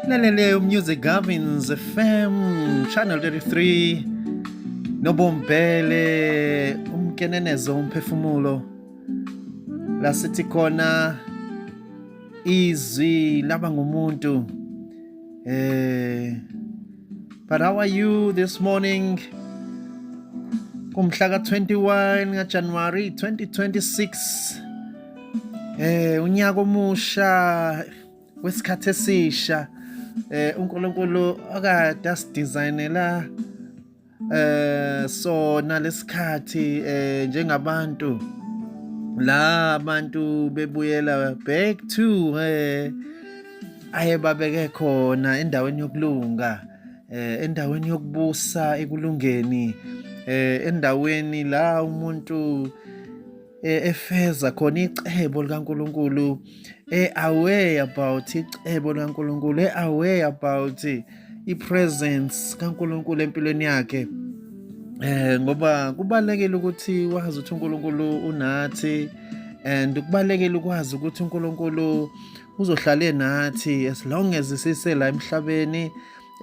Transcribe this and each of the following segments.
Laleleyo Music Gavins FM Channel 33 Nobombele umkenenezo umphefumulo la sithi khona izwi laba ngumuntu eh but how are you this morning kumhla ka-21 ngajanuwari 2026 eh unyaka omusha wesikhathi esisha eh uNkulunkulu akade asidesignela eh sona lesikhathi eh njengabantu la abantu bebuyela back to eh aye babeke khona endaweni yokulunga eh endaweni yokubusa ekulungeni eh endaweni la umuntu eh, efeza khona icebo likaNkuluNkulu e aware about icebo likaNkuluNkulu e aware about i presence kaNkuluNkulu empilweni yakhe eh ngoba kubalekile ukuthi wazi ukuthi uNkulunkulu unathi and kubalekile ukwazi ukuthi uNkulunkulu uzohlale nathi as long as sise la emhlabeni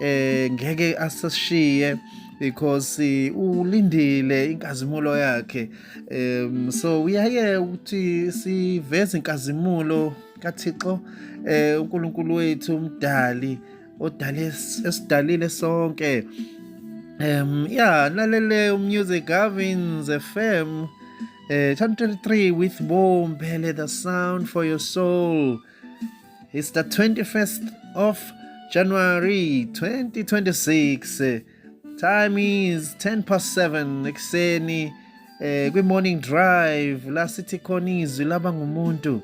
eh ngeke asishiye because eh, ulindile inkazimulo yakhe um so uyaye ukuthi siveze inkazimulo kaThixo eh uNkulunkulu wethu umdali odale esidalile sonke um yeah lalele umusic Gavins FM eh 23 with bomb the sound for your soul It's the 21st of January 2026. Time is 10 past 7 ekuseni eh kwi morning drive la sithi khona izwi laba ngumuntu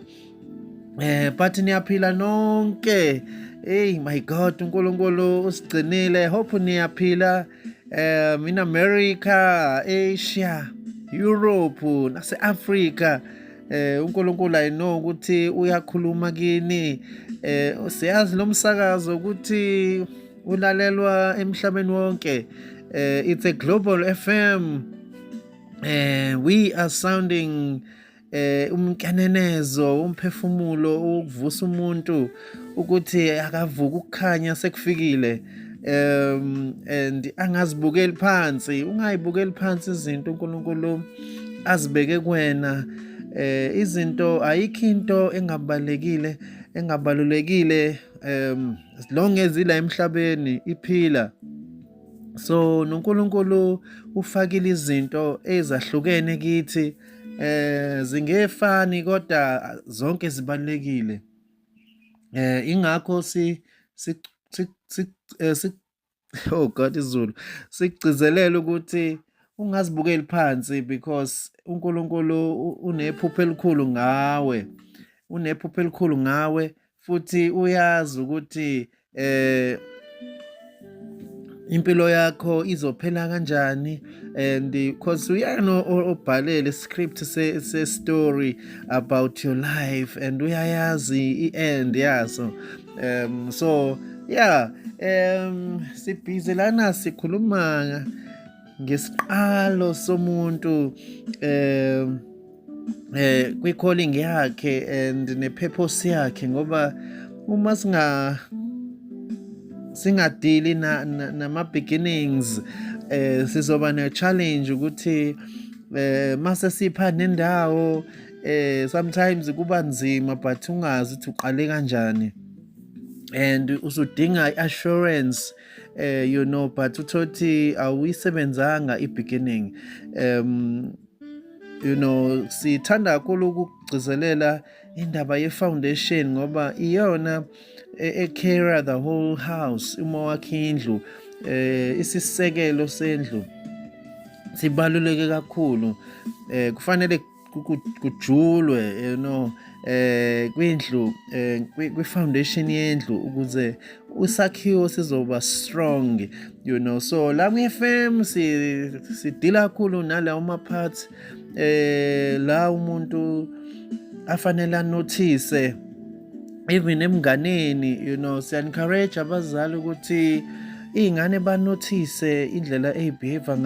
eh but niyaphila nonke hey my god uNkulunkulu usigcinile hope niyaphila um in America Asia Europe nase Africa eh uNkulunkulu i know ukuthi uyakhuluma kini eh siyazi lo msakazo ukuthi ulalelwa emhlabeni wonke eh it's a global FM eh we are sounding eh umkenenezo umphefumulo ukuvusa umuntu ukuthi akavuka ukukhanya sekufikile um and angazibukeli phansi ungayibukeli phansi izinto uNkulunkulu azibeke kuwena eh izinto ayikho into engabalekile engabalulekile um as long as ila emhlabeni iphila so noNkulunkulu ufakile izinto ezahlukene kithi eh zingefani kodwa zonke zibalekile eh ingakho si si si eh, oh god izulu sigcizelela ukuthi ungazibukeli phansi because uNkulunkulu unephupho elikhulu ngawe unephupho elikhulu ngawe futhi uyazi ukuthi eh impilo yakho izophela kanjani and because uyena obhalele script se, se story about your life and uyayazi i-end yaso um so yeah um sibhizi lana sikhuluma ngesiqalo somuntu um eh kwi calling yakhe and ne purpose yakhe ngoba uma singa singadili na nama beginnings eh sizoba ne challenge ukuthi eh mase sipha nendawo eh sometimes kuba nzima but ungazi ukuthi uqale kanjani and usudinga assurance eh you know but uthothi awuyisebenzanga i beginning um you know sithanda kakhulu ukugcizelela indaba ye-foundation ngoba iyona e-carrier e the whole house uma wakhe indlu eh isisekelo sendlu sibaluleke kakhulu eh kufanele kujulwe you know eh kwindlu eh, kwi foundation yendlu ukuze usakhiwo sizoba strong you know so la kwi FM si sidila kakhulu nalawo ma parts eh la umuntu afanele anotice even emnganeni you know siya encourage abazali ukuthi iy'ngane banothise indlela ey'behave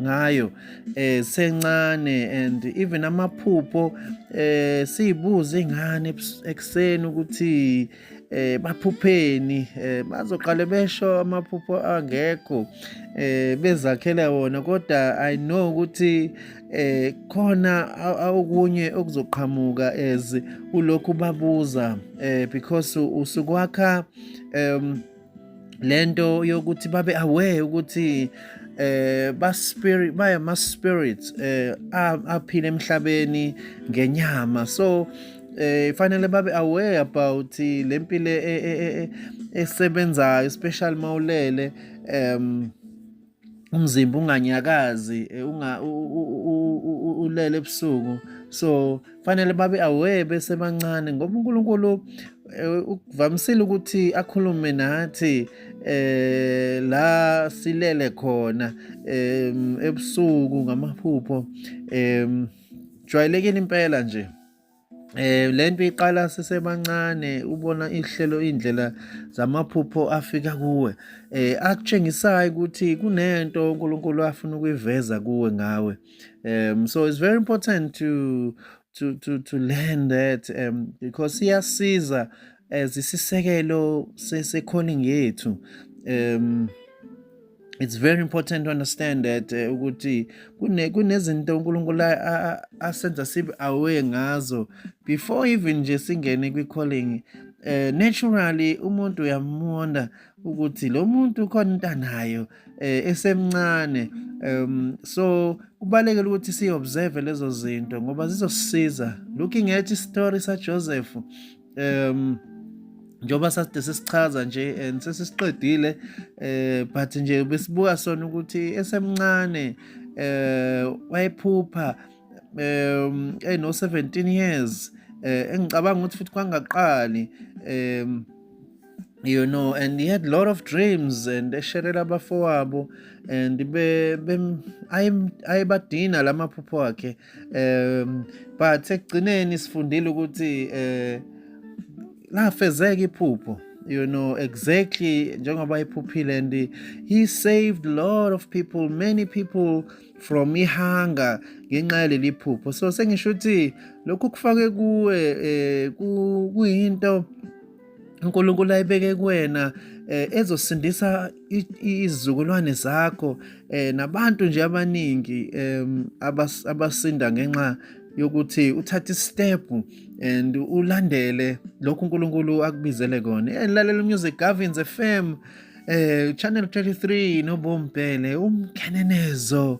ngayo eh sencane and even amaphupho eh siyibuza ingane ekseni ukuthi eh baphupheni eh bazoqale besho amaphupho angekho eh bezakhela wona kodwa i know ukuthi eh khona awukunye okuzoqhamuka as ulokhu babuza eh because usukwakha um lento yokuthi babe aware ukuthi eh ba spirit baya ma spirits eh aphile emhlabeni ngenyama so eh fanele babe aware about lempilo e, e, e, esebenzayo especially mawulele um umzimba unganyakazi eh, unga ulele ebusuku so fanele babe aware besebancane ngoba uNkulunkulu eh, ukuvamisile ukuthi akhulume nathi eh la silele khona ebusuku ngamaphupho em jwayelekile impela nje Eh lento iqala sisebancane ubona ihlelo indlela zamaphupho afika kuwe eh akutshengisayo ukuthi kunento uNkulunkulu afuna ukuyiveza kuwe ngawe um so it's very important to to to to learn that um because iyasiza as isisekelo sesekhona ngethu um it's very important to understand that eh, ukuthi kune kunezinto uNkulunkulu asenza sibe aware ngazo before even nje singene kwi calling eh naturally umuntu uyamona ukuthi lo muntu khona intanayo eh, esemncane um so kubalekela ukuthi si observe lezo zinto ngoba zizosiza looking at story sa Joseph um njengoba saside sisichaza nje and sesisiqedile eh but nje besibuka sona ukuthi esemncane eh wayephupha um eno 17 years eh engicabanga ukuthi futhi kwangaqali um you know and he had a lot of dreams and esherela abafowabo and be, be ayebadina lamaphupho akhe um but ekugcineni sifundile ukuthi um lafezeka iphupho you know exactly njengoba iphuphile and he saved a lot of people many people from ihanga ngenxa yaleli phupho so sengisho ukuthi lokhu kufake kuwe um kuyinto uNkulunkulu ayibeke kuwena eh, ezosindisa izizukulwane zakho eh, nabantu nje abaningi abasinda ngenxa yokuthi uthathe step and ulandele lokhu uNkulunkulu akubizele kona eh, lalela music Gavins FM eh channel 33 nobombhele umkenenezo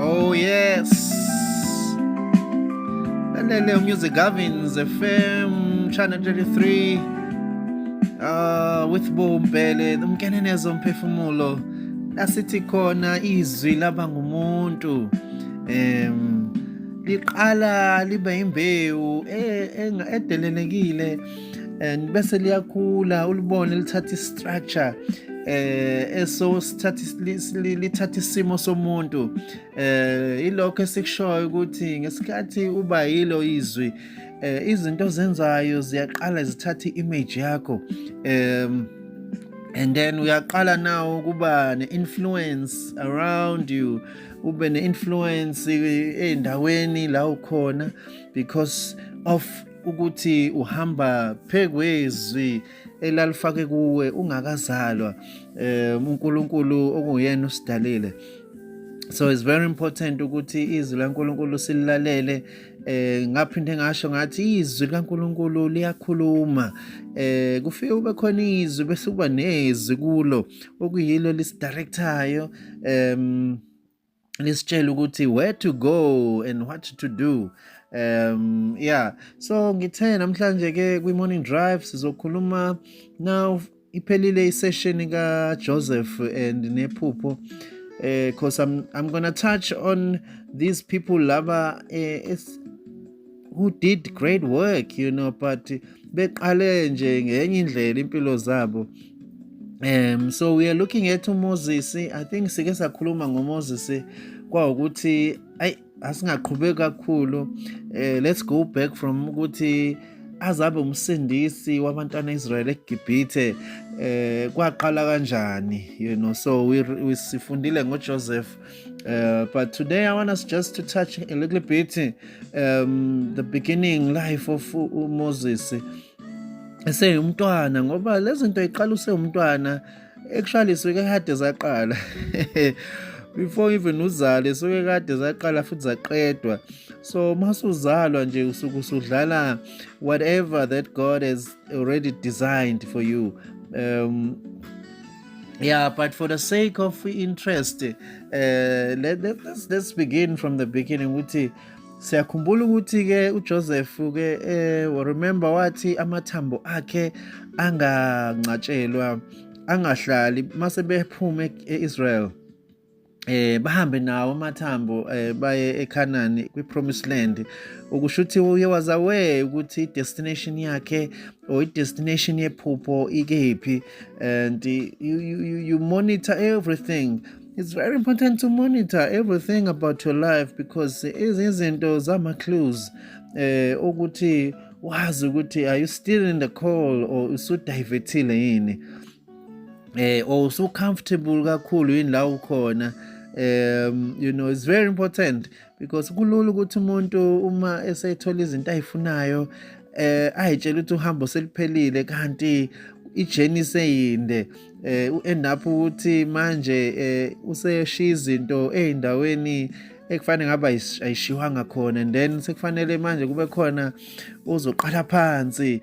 Oh yes. Lelele Music Gavins FM Channel 33 uh, with Bombele umkenenezo mphefumulo lasithi khona izwi laba ngumuntu em liqala libe imbewu e, e, edelelekile and bese liyakhula ulibone lithatha i-structure eh eso lithatha isimo somuntu eh ilokho esikushoyo ukuthi ngesikhathi uba yilo izwi eh izinto zenzayo ziyaqala zithatha image yakho um and then uyaqala nawo ukuba ne-influence around you ube ne-influence endaweni la ukhona because of ukuthi uhamba phekwezwi elalifake kuwe ungakazalwa um uNkulunkulu okuyena usidalile so it's very important ukuthi izwi laNkulunkulu sililalele eh ngaphinde ngasho ngathi izwi likaNkuluNkulu liyakhuluma eh kufike ube khona izwi bese kuba nezwi kulo okuyilo lisidirectayo um nisitshele ukuthi where to go and what to do um yeah so ngithe namhlanje ke kwi morning drive sizokhuluma now iphelile isession ka Joseph and nephupho eh cause i'm i'm going to touch on these people laba eh, who did great work you know but beqale nje ngenye indlela impilo zabo um so we are looking at uMoses i think sike sakhuluma ngoMoses kwawukuthi ayi asingaqhubeki kakhulu uh, let's go back from ukuthi azabe umsindisi wabantwana Israel eGibhithe eh kwaqala kanjani you know so we, we sifundile ngoJoseph Uh, but today I want us just to touch a little bit um, the beginning life of Moses. eseyumntwana ngoba lezi nto iqala usewumntwana actually suke kade zaqala before even uzale suke kade zaqala futhi zaqedwa so masuzalwa nje usuke usudlala whatever that god has already designed for you um yeah but for the sake of interest uh, let, let, let's, let's begin from the beginning ukuthi siyakhumbula ukuthi ke uJoseph ke eh remember wathi amathambo akhe angancatshelwa angahlali mase bephuma eIsrael eh bahambe nawo amathambo eh baye eKhanani kwiPromised Land ukusho ukuthi uye wazawe ukuthi idestination yakhe or idestination yephupho ikephi and you, you, you monitor everything it's very important to monitor everything about your life because izinto zama clues eh ukuthi wazi ukuthi are you still in the call or usudivethile yini eh or so comfortable kakhulu yini la ukhona um you know it's very important because kulula ukuthi umuntu uma esethola izinto ayifunayo eh ayitshela ukuthi uhambo seliphelile kanti ijeni seyinde eh uend up ukuthi manje eh useshiya izinto ezindaweni ekufanele ngaba ayishiwanga khona and then sekufanele manje kube khona uzoqala phansi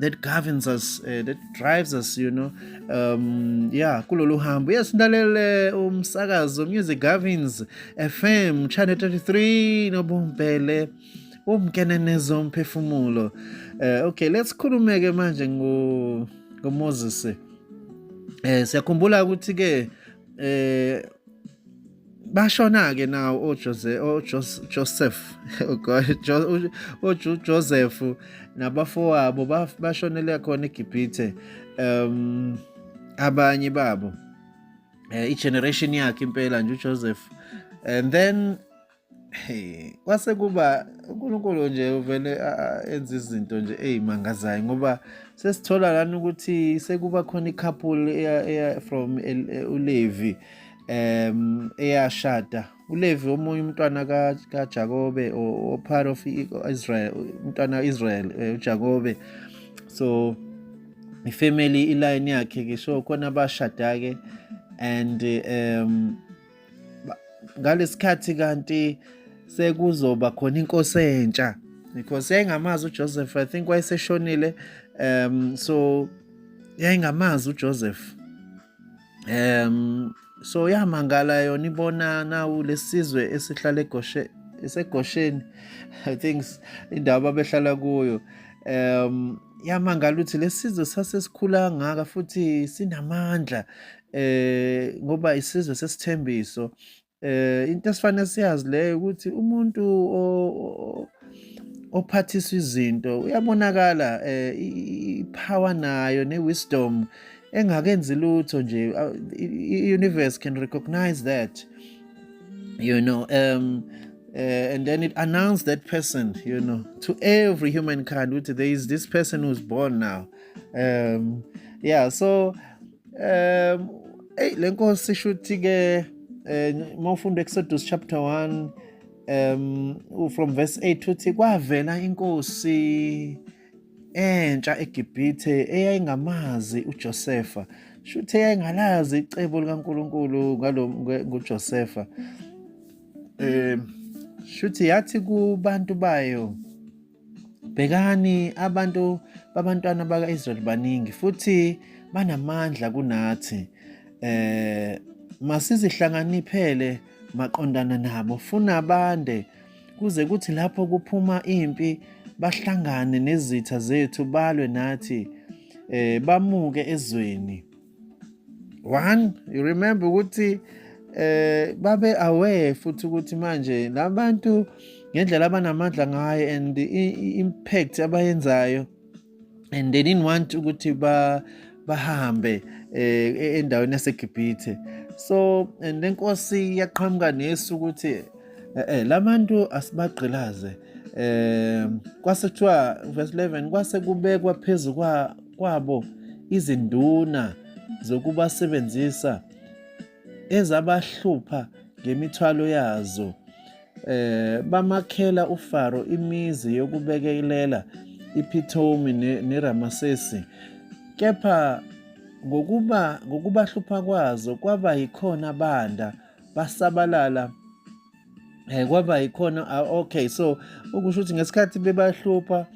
that governs us uh, that drives us you know um yeah kulolu hambo yes ngilalele umsakazo music governs fm channel 33 nobumbele umkenenezo umphefumulo uh, okay let's khulumeke manje ngo ngoMoses eh siyakhumbula ukuthi ke eh bashona-ke nawo ojoseph ujoseph nabafowabo bashonele khona egibhithe um abanye babo um igeneration yakhe impela nje ujoseph and then Hey, kwase kuba uNkulunkulu nje uvele enza izinto nje ezimangazayo ngoba sesithola lana ukuthi sekuba khona i-couple eya eya from uLevi um eyashada uLevi omunye umntwana kaJakobe or part of Israel umntwana Israel eh, uJakobe so ifamily iline yakhe ke so khona abashada ke and um ngalesikhathi kanti sekuzoba khona inkosi entsha because yayingamazi uJoseph i think wayeseshonile um so yayingamazi uJoseph um so yamangala yona ibona nawu lesizwe esihlala egoshe esegosheni i think indawo ababehlala kuyo um yamangala ukuthi lesizwe sasesikhula ngaka futhi sinamandla eh ngoba isizwe sesithembiso eh into esifanele siyazi leyo ukuthi umuntu ophathiswa izinto uyabonakala eh ipower nayo newisdom engakenzi lutho nje i-universe can recognize that you know um uh, and then it announced that person, you know, to every humankind. There is this person who's born now. Um, yeah, so Um, eyi le nkosi shuthi-ke um uma ufunda Exodus chapter 1 um from verse 8 uthi kwavela inkosi entsha eGibhithe eyayingamazi uJosefa shuthi eyayingalazi icebo likaNkuluNkulu ngalo nguJosefa um shuthi yathi kubantu bayo Bhekani abantu babantwana baka-Israyeli baningi futhi banamandla kunathi. Eh masizihlanganiphele maqondana nabo funa bande kuze kuthi lapho kuphuma impi bahlangane nezitha zethu balwe nathi eh bamuke ezweni. one you remember ukuthi eh babe aware futhi ukuthi manje labantu ngendlela abanamandla ngayo and impact abayenzayo and they didn't want ukuthi ba bahambe eh e-, endaweni yaseGibhithe so and lenkosi yaqhamuka nesu ukuthi eh, eh labantu asibagqilaze eh kwase kuthiwa verse 11 kwase kubekwa phezulu kwa kwabo izinduna zokubasebenzisa ezabahlupha ngemithwalo yazo eh bamakhela uFaro imizi yokubekelela iPhithomi neRamasesi kepha ngokuba ngokubahlupha kwazo kwaba yikhona banda basabalala eh kwaba yikhona ah, okay so ukusho ukuthi ngesikhathi bebahlupha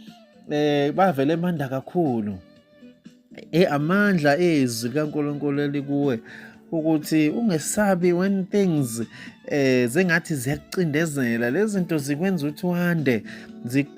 eh bavele emanda kakhulu eh amandla ezwi kaNkuluNkulu elikuwe ukuthi ungesabi when things eh zengathi ziyakucindezela lezinto zikwenza ukuthi wande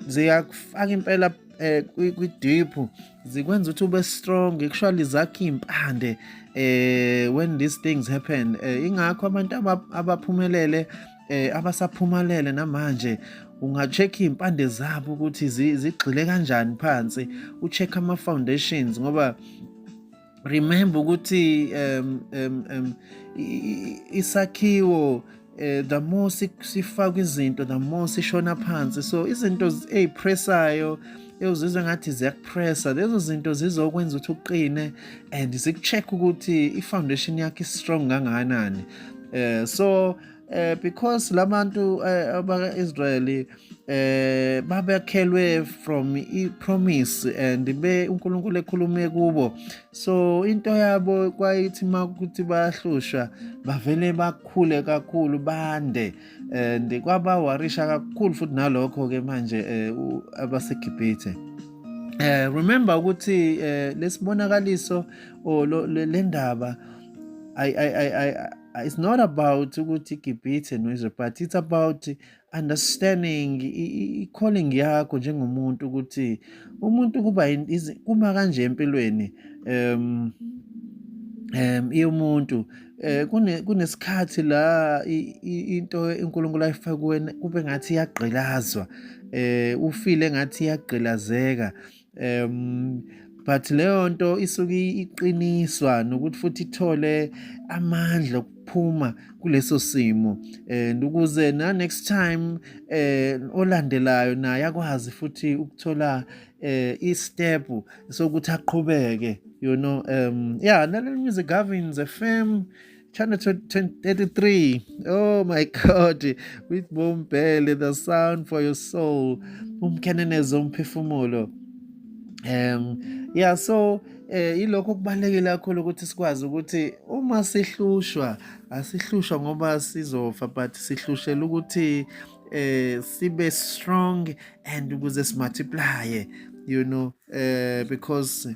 ziyakufaka impela eh kwi deep zikwenza ukuthi ube strong actually zakhe impande eh when these things happen eh, ingakho abantu abaphumelele eh abasaphumalele namanje ungacheck impande zabo ukuthi zigxile kanjani phansi ucheck ama foundations ngoba remember ukuthi um, um, um, isakhiwo uh, eh, the more sifakwa izinto the more sishona phansi so izinto ezipressayo uzizwa ngathi ziyakupressa lezo zinto zizokwenza ukuthi uqine and zikucheck ukuthi i-foundation yakho i-strong kangakanani um so eh because labantu eh, abaka Israeli eh babekhelwe from i promise and be uNkulunkulu ekhulume kubo so into yabo kwayithi makuthi bayahlushwa bavele bakhule kakhulu bande and kwaba warisha kakhulu futhi nalokho ke manje eh, abasegibhithe eh remember ukuthi eh, lesibonakaliso o oh, lendaba i i i Uh, it's not about ukuthi gibhithe noyize but it's about understanding i-calling yakho njengomuntu ukuthi umuntu kuba kuma kanje empilweni um um iyomuntu eh kunesikhathi la into uNkulunkulu ayifake kuwena kube ngathi iyagqilazwa eh ufile ngathi iyagqilazeka um but leyo nto isuke iqiniswa nokuthi futhi ithole amandla ukuphuma kuleso simo and ukuze na next time eh olandelayo naye akwazi futhi ukuthola eh i-step sokuthi aqhubeke you know um yeah lalela music governs fm Channel 33. Oh my God. With Bombele, the sound for your soul. Umkheneneza umphefumulo. Um yeah so eh ilokho okubalekile kakhulu ukuthi sikwazi ukuthi uma sihlushwa asihlushwa ngoba sizofa but sihlushela ukuthi eh sibe strong and ukuze simultiply you know eh because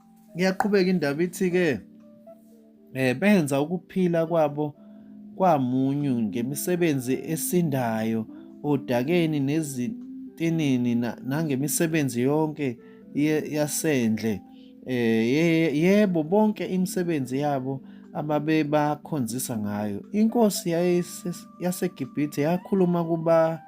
Iyaqhubeka indaba ithi-ke um benza ukuphila kwabo kwamunyu ngemisebenzi esindayo odakeni nezitinini nangemisebenzi yonke yasendle um yebo bonke imisebenzi yabo ababebakhonzisa ngayo inkosi yasegibhithe yakhuluma kuba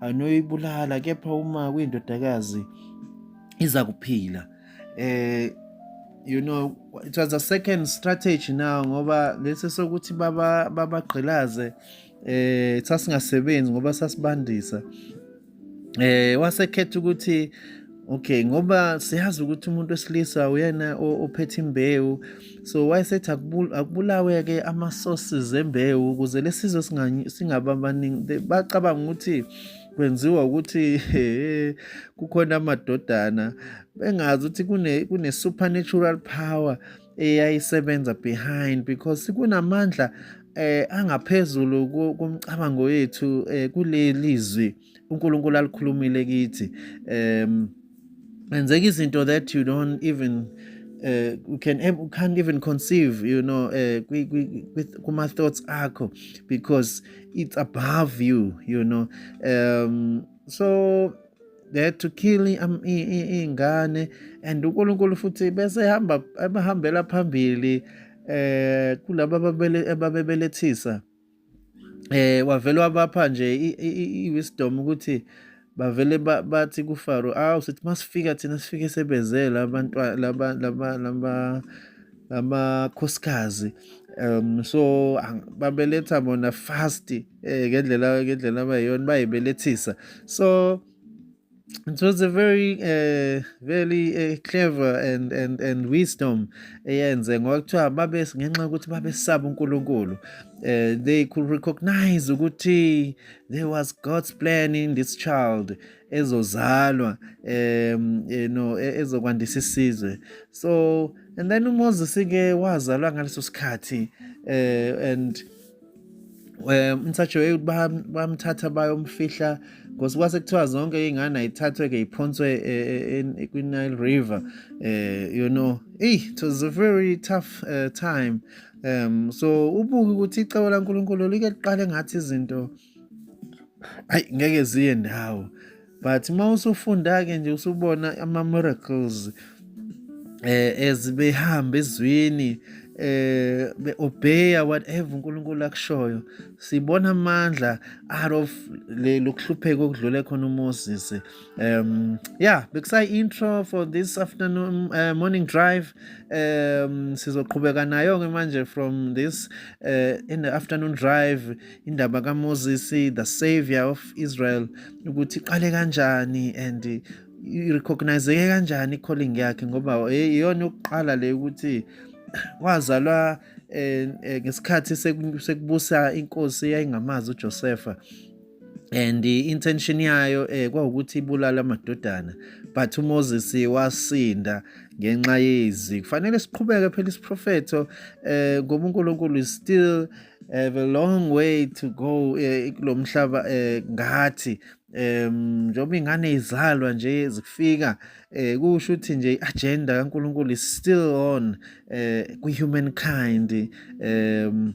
anoyibulala kepha uma kuyindodakazi iza kuphila eh you know it was a second strategy now ngoba lesi sokuthi baba babagqilaze eh sasingasebenzi ngoba sasibandisa eh wasekhetha ukuthi okay ngoba siyazi ukuthi umuntu wesilisa uyena ophethe imbewu so wayesethi akubulawe-ke ama-sources zembewu ukuze le sizwe singaba abaningi bacabanga ukuthi kwenziwa ukuthi kukhona amadodana bengazi ukuthi kune-supernatural power eyayisebenza behind because kunamandla eh angaphezulu komcabango wethu eh kuleli zwi uNkulunkulu alikhulumile kithi um enzeka izinto that you don't even uh, you can you can't even conceive you know uh, with kuma thoughts akho because it's above you you know um so that to kill ingane and uNkulunkulu futhi bese ehamba ebahambela phambili eh kulabo ababebelethisa eh wavele wabapha nje i-wisdom ukuthi bavele bathi kuFaro awu sithi masifika thina sifike sebezela abantwana laba laba laba lamakhosikazi um so babeletha bona fast eh ngendlela ngendlela abayiyona bayibelethisa so it was a very uh, very uh, clever and and and wisdom eyenze ngoba kuthiwa babe ngenxa yokuthi babesaba uNkulunkulu uh, they could recognize ukuthi there was God's plan in this child ezozalwa um you know e, ezokwandisa isizwe so and then uMoses ke wazalwa ngaleso sikhathi uh, and um umthathiwe bamthatha bayomfihla ngosi kwase kuthiwa zonke iy'ngane ayithathwe-ke iphonswe e, e, e, kwi-nile river um you know eyi it was a very tough uh, time um so ubuke ukuthi icebo lankulunkulu like liqale ngathi izinto ayi ngeke ziye ndawo but uma usufunda-ke nje usubona ama-miracles eh as behamba ezweni eh beobeya whatever uNkulunkulu akushoyo sibona amandla out of le lokuhlupheka okudlule khona uMoses um yeah bekusayi intro for this afternoon uh, morning drive um sizoqhubeka nayo ke manje from this uh, in the afternoon drive indaba kaMoses the savior of Israel ukuthi iqale kanjani and irecognizeke kanjani i-calling yakhe ngoba iyona yokuqala le ukuthi wazalwa eh, eh, ngesikhathi sekubusa inkosi eyayingamazi uJosefa and intention yayo eh kwawukuthi ibulala amadodana but uMoses wasinda ngenxa yezi kufanele siqhubeke phela isiprofetho eh ngoba uNkulunkulu is still have a long way to go eh, kulo mhlaba eh, ngathi um njengoba ingane izalwa nje zikufika eh kusho ukuthi nje agenda kaNkuluNkulu is still on eh ku humankind um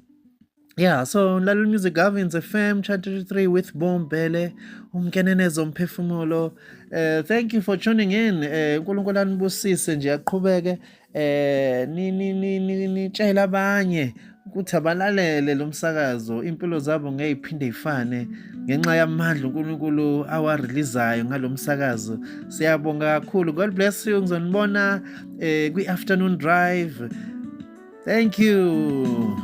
Yeah, so Lalu Music Governs FM, Chart 3 with Boom Bele, umkenenezo mphefumulo. Uh, thank you for tuning in. Eh, uNkulunkulu uh, anibusise nje aqhubeke eh ni ni ni ni nitshela abanye ukuthi abalalele lo msakazo impilo zabo ngeke iphinde ifane ngenxa yamandla uNkulunkulu awareleasayo ngalo msakazo siyabonga kakhulu god bless you ngizonibona eh kwi afternoon drive thank you